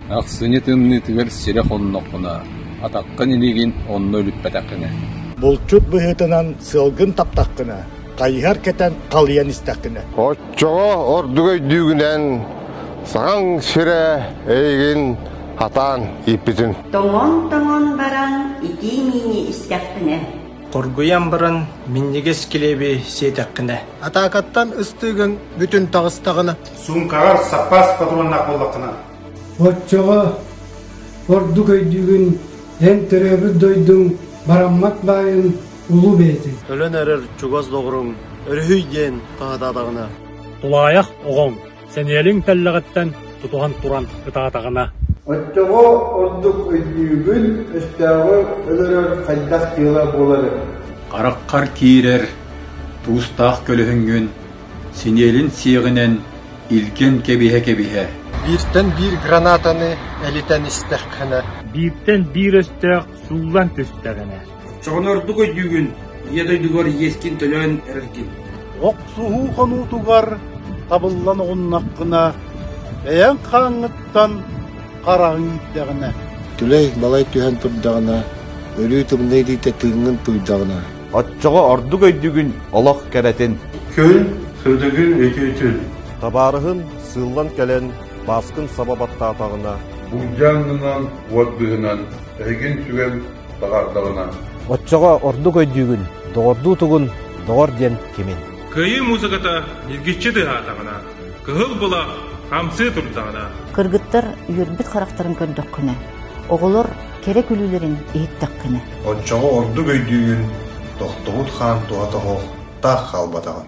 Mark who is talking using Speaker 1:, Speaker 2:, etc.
Speaker 1: Ахсынньы тымныытыгар сирэ хонноххуна, атаххын илиигин онно үлүппэтэххинэ. Булчут
Speaker 2: быһыытынан сыалгын таптаххына, хайыһар кэтэн халыйан истэххинэ. Оччоҕо
Speaker 3: ордук өйдүүгүнэн саҕаҥ сирэ эйигин Хатаан ииппитин. Тоҥон-тоҥон
Speaker 4: баран итии-миини истэхпинэ. Хоргуйан
Speaker 5: баран минньигэс килиэби сиэтэххинэ. Атаакаттан
Speaker 6: ыстыыгын бүтүн таҕыстаҕына. Суумкаҕар
Speaker 7: саппаас патроннаах буоллаххына. Оччоҕо
Speaker 8: ордук өйдүүгүн эн төрөөбүт дойдуҥ бараммат баайын улуу бэйэтин. Өлөн эрэр чугас
Speaker 6: доҕоруҥ өрүһүй диэн хаһытаатаҕына. Тулаайах
Speaker 9: оҕоҥ сэниэлиҥ тэллэҕиттэн тутуһан туран ытаатаҕына Оччоҕо
Speaker 10: ордук өйдүүгүн, өстөөҕү өлөрөр хайдах дьыала буоларын. Хараххар
Speaker 11: киирэр туустаах көлөһүҥҥүн синиэлин сиэҕинэн илгэн кэбиһэ-кэбиһэ. Бииртэн биир
Speaker 6: гранатаны элитэн истэххинэ. Бииртэн биир
Speaker 9: өстөөх сууллан түстэҕинэ. Чоҕону ордук
Speaker 7: өйдүүгүн, ийэ дойдугар иэскин төлөөн эрэргин. Охсуһуу
Speaker 2: хонуутугар табыллан оҕуннаххына, бэйэҥ хааҥҥыттан хараҕыҥ ииттэҕинэ. Түлэй балай
Speaker 3: түһэн турдаҕына, өрүү тымныы илиитэ тыыҥҥын тууйдаҕына. Оччоҕо ордук
Speaker 12: өйдүүгүн олох кэрэтин. Күн
Speaker 7: сырдыгын өйдүүтүн. Табаарыһын
Speaker 12: сыыллан кэлэн бааскын саба баттаатаҕына. Былдьааннынан,
Speaker 13: уот быыһынан эһигин түгэн Баҕардаҕына Оччоҕо
Speaker 14: ордук өйдүүгүн, доҕордуу тугун, доҕор диэн кимин? Кыайыы муусуката
Speaker 15: ньиргиччи тыаһаатаҕына, кыһыл былах хамсыы турдаҕына, Кыргыттар
Speaker 16: үөрбүт харахтарын көрдөххүнэ, оҕолор кэрэ күлүүлэрин иһиттэххинэ,
Speaker 17: оччоҕо ордук өйдүүгүн,
Speaker 16: тохтобут
Speaker 17: хаан туһа тоһоҕолоохтук хаалбатаҕын.